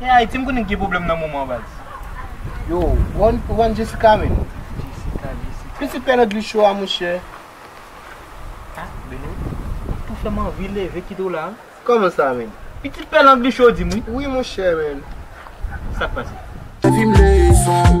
Eeh Haiti m konnen gen problem nan moman baz. Yo ou wè Jessica menm. Jessica Jessica. Pitit pè landy cho a monchè. Ah Belo ou tou fèm anvi leve kite w la. Kòman sa menm. Pitit pè landy cho di m wi. Wi monchè menn. Sak pase.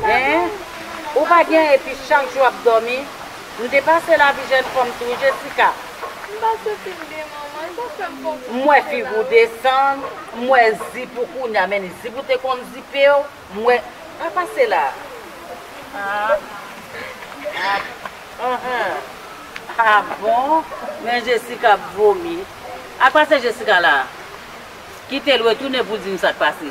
Eeh ou pa gen epi chak jou ap domi m te pase lavi jèn fanm tou wi Jessica. M pa santi m byen manman e sa fem fon kou M wè kouche fig la ou wi. desann m wè zip ou kounya men ni zip ou te konn zipew m wè pa pase la aah aah ah bon men Jessica ap vomi ak pase Jessica la kitel retounen pou dim sak pase.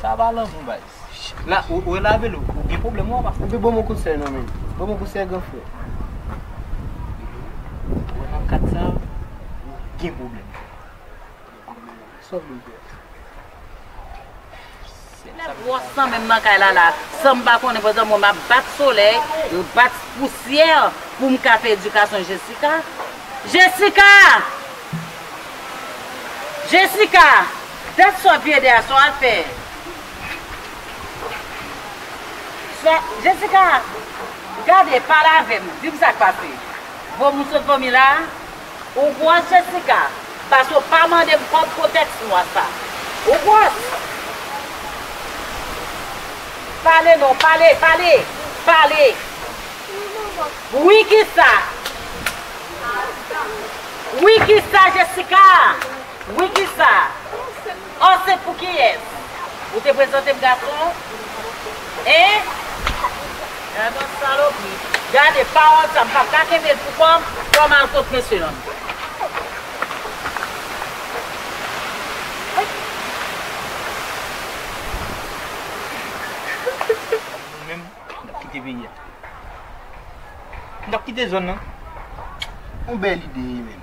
Sa pa lanmou baz. La ou ou lave l ou gen pwoblèm ou apa. Epi banm yon kout sèl non men. Banm yon kout sèl gran frè. Ou wè nan kad sa ou gen pwoblèm. Sa w vle m fè? Gen nèg gwòs nan menm nan kay la la. San m pa konnen pandan mwen map bat solèy, bat pousyè pou m ka fè edikasyon Jessica. Jessica! Jessica! Dat swa piye de a son afè swa Jessica gade pale avem dim sak pase vo moun sot vomi la ou gwòs Jessica paske ou pa mandem kòb pou tèks nwa sa ou gwòs pale non pale pale pale wi kisa wi kisa Jessica. Wi kisa? Ansent pou kiyès? Ou te prezante m gason? Hein? Gadon salopri. Gade pawòl sa m pap ka kenbe l pou kò m, fò m al kot mesye an. Nou menm n ap kite peyi a. N ap kite zòn nan. On bèl ide wi menm.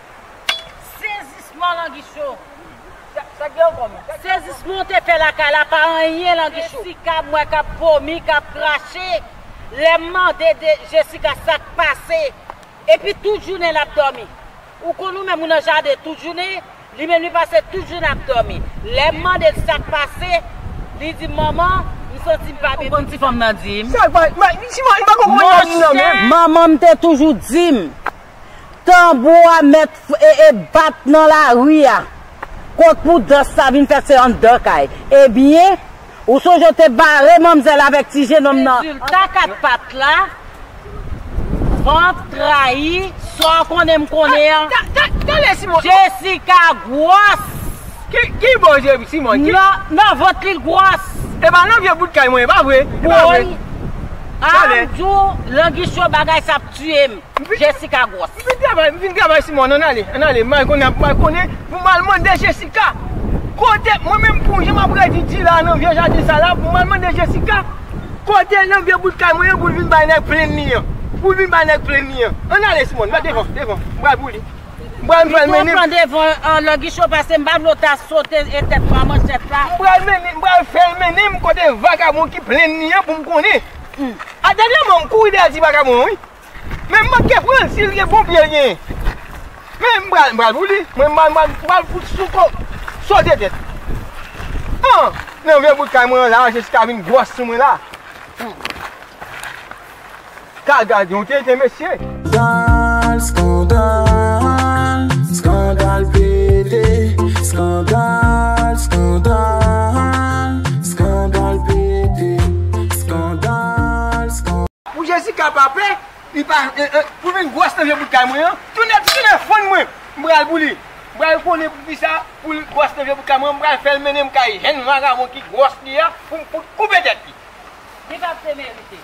Sezisman Langichon! Sezisman w te fè lakay la pa anyen Langichon! Jessica m wè k ap vomi, k ap krache, lè m mande Jessica sa k pase, epi tout jounen l ap dòmi. Ou konn ou menm ou nan jaden tout jounen, li menm li pase tout jounen ap dòmi. Lè m mande l sa k pase, li di m manman, m santi m pa byen. Ou konn ti fanm nan di m? Monchè! Manman m te toujou di m, Tanbou a mèt ee bat nan lari a. Kot pou dans sa vin fèt se anndan kay. Ebyen, ou sonje ou te bare manmzèl avèk ti jenòm nan andan kay. Rezilta 4 pat la, vant trayi, sa w konnen m konnen an. Jessica gwòs! Ki bò je Simon? Nan vant li gwòs. E pa nan vye bout kay mwen, e pa vre? Woy! An m di w, Langichon bagay sa ap tiye m. Jessica gwòs. M fin travay, m fin travay sou mòn, ann ale, ann ale, may konnen ap may konnen, pou m al mande Jessica, kote, mwen menm pou, jan m ap redi di la a nan vye jaden sa la, pou m al mande Jessica, kote nan vye bout kay mwen an pou l vin bay nèg plenn li an, pou l vin bay nèg plenn li an, ann ale Simòn, va devan, devan, m pral pou li, m pral, m pral mennen. Li twò pran devan an, lò Gichon pase, m pa vle w ta sote e tèt mwen an manchèt la. M pral mennen, m pral fè l mennen m kote vakabon ki plenn li an pou m konnen. A dènye moman m kouri dèyè ti vakabon an wi. Men m manke pranl si l gen bon pye l genyen. Men m pral m pral pou li. Mwen m pral m pral fout sou kò sote tèt. An! Nan vye bout kay mwen an la Jessica vin gwòs sou mwen la. Ka gad yon tenten mesye. Skandal, skandal, skandal pete Skandal, skandal, skandal pete Skandal, skandal Pou Jessica pa pè, li pa Pou vin gwòs nan vye bout kay mwen an, tounen ti tounen fonn mwen, m pral pou li. M pral konnen poukisa pou l gwòs nan vye bout kay mwen an, m pral fè l mennen m kay jèn vagabon ki gwòs li a pou m fout koupe tèt li. Li pap te merite.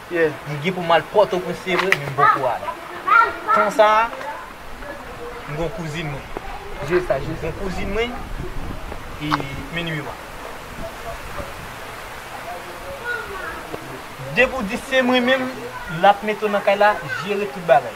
Mwen gen pou m al Pòtoprens se vre men m poko ale. Tan sa a, m gen yon kouzin mwen. Jwe sa, jwe sa. M gen yon kouzin mwen, e men nimewo a. Depi w di se mwen menm, l ap mete w nan kay la, jere tout bagay.